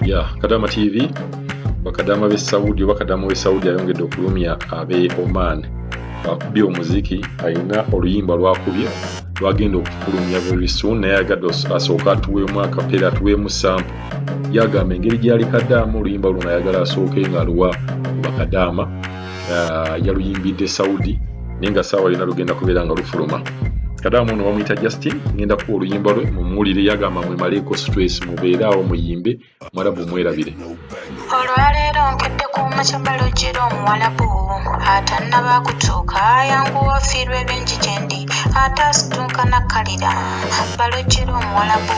ya kadama tv bakadama b'e saudi oba kadama w'e saudi ayongedde okulumya ab'e oman akubye omuziki alina oluyimba lwakubye lwagenda okufulumya very soon naye agadde asooka atuweemu akapeera atuweemu sampo yagamba engeri gyali kadaama oluyimba luno ayagala asooke nga aluwa bakadaama uh, yaluyimbidde saudi naye nga saawa yona lugenda kubeera nga lufuluma kadamu ono bamuyita justin ngenda kuwa oluyimba lwe mumuwulire yagamba mwemaleeko stress mubeere awo muyimbe mwarabu mwerabire olwaleero nkedde ku mukyambalo giro omuwalabu atannaba kutuuka ayanguwa ofiirwa ebingi gyendi ate asituuka nakkalira balo giro omuwalabu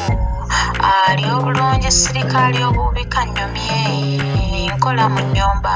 ali obulungi sirika ali obuubika nnyumye nkola mu nnyumba